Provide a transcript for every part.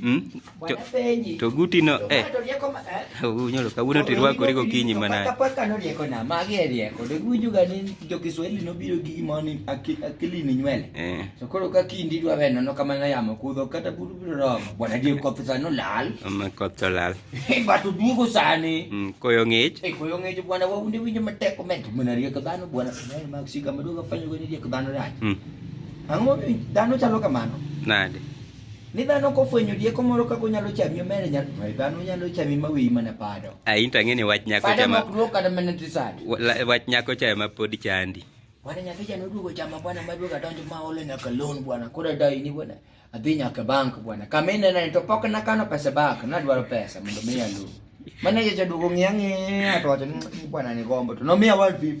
Hmm? To guti no eh. Unyo lo kawuono to irwako rigo kinyi mana. Kapaka no rieko na magi e rieko. De guju ga ni jo Kiswahili no biro gi gimo ni akili ni nywele. Eh. To koro ka kindi dwa weno no kamana yamo kudho kata buru biro romo. Bwana je koth sa no lal. Ma koth to lal. Eh, Batu dugo sani. Mm, koyo ngich. Eh, koyo ngich bwana wa unde winjo matek komenti. Mwana rieko dhano bwana. Mwana maksika maduga fanyo gani rieko dhano rach. Mm. Ang'o dhano chalo kamano? Nade? Ni dhano kofwenyo rieko moro kaka onyalo chami omere nyalo dhano nyalo chami ma wiyi mana pado. A into ang'e ni wach nyako chama. Pado mok kata mana tisad. Wach nyako chama pod chandi. Bwana nyathi jana oduogo chama bwana maduogo adonjo ma ole nyaka loan bwana koro dai ni bwana adhi nyaka bank bwana kama inena to pok nakano pesa bank nadwaro pesa mondo miya loan. Manager jaduogo ng'iya ng'iya to wacho ni bwana ni gombo to nomiya 150.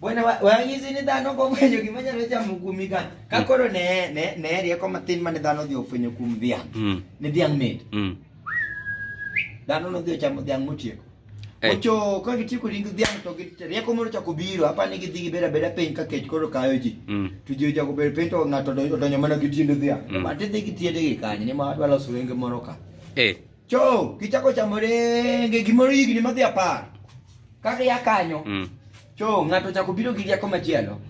Bwana wang'izi ni dhano kofwenyo gima nyalo chamo kuomi ka. Ka mm. koro ne ne ne rieko matin mane dhano dhi ofwenyo kuom dhiang'. Mm. Ni dhiang' mit. Mm. Dhano no dhi ochamo dhiang' motieko. Eh. Ocho ka gitieko ring dhiang' to rieko moro chako biro apa ni gidhi gibeda beda piny ka kech koro kayo ji. To ji ochako bedo piny to ng'ato odonyo mana gi tiend dhiang'. Mati dhi gi tiende gi kanyo ni ma adwa loso wenge moro ka. Eh. Cho, kichako chamo renge gimoro higni madhi apar. Kaka ya kanyo. Mm. Cho, ng'ato chako biro gi rieko machielo.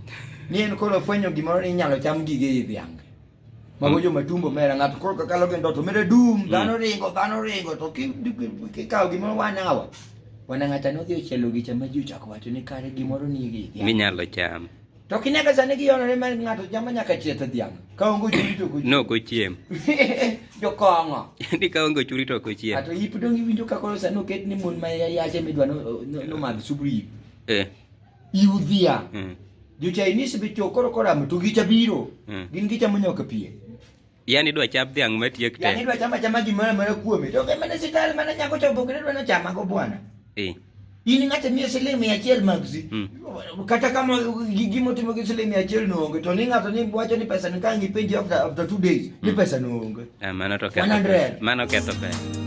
Ni en koro fwenyo gimoro ni inyalo cham gige i dhiang'. Mago mm. joma tumbo mera ng'ato koro kakalo gi ndoto mere dum, mm. dhano ringo, dhano ringo to kikawo gimoro wanawa. Wana ng'ata nodhi ochielo gi chama ji ochako wacho ni kare gimoro ni gi. Minyalo cham. To kinega sani giyonore ma ng'ato chamo nyaka chieth dhiang'. Ka onge ochuri to kochiem. No kochiem. Jokong'o. Ni ka onge ochuri to kochiem. Ato yip dong iwinjo ka koro sani oket ni mon ma yache midwa no madh subru yip. Eh. Iu dhiang'. Mm. Jo Chinese be chokoro koramo to gicha biro. Mm. Gin gichamo nyaka pie. Yani idwa chap dhiang' matiek te. Yani idwa chama chama gimoro amora kuome. To kembe ne sital mana nyako chopo kendo dwa chama go bwana. Eh. In ng'ate miye siling mia achiel magzi. Mm. Kata kama gimo timo gi siling mia achiel noonge to ni ng'ato ni wacho ni pesa ni kangi penji after after two days mm. ni pesa noonge. Ah, mano to ketho. 100. Mano ketho pesa.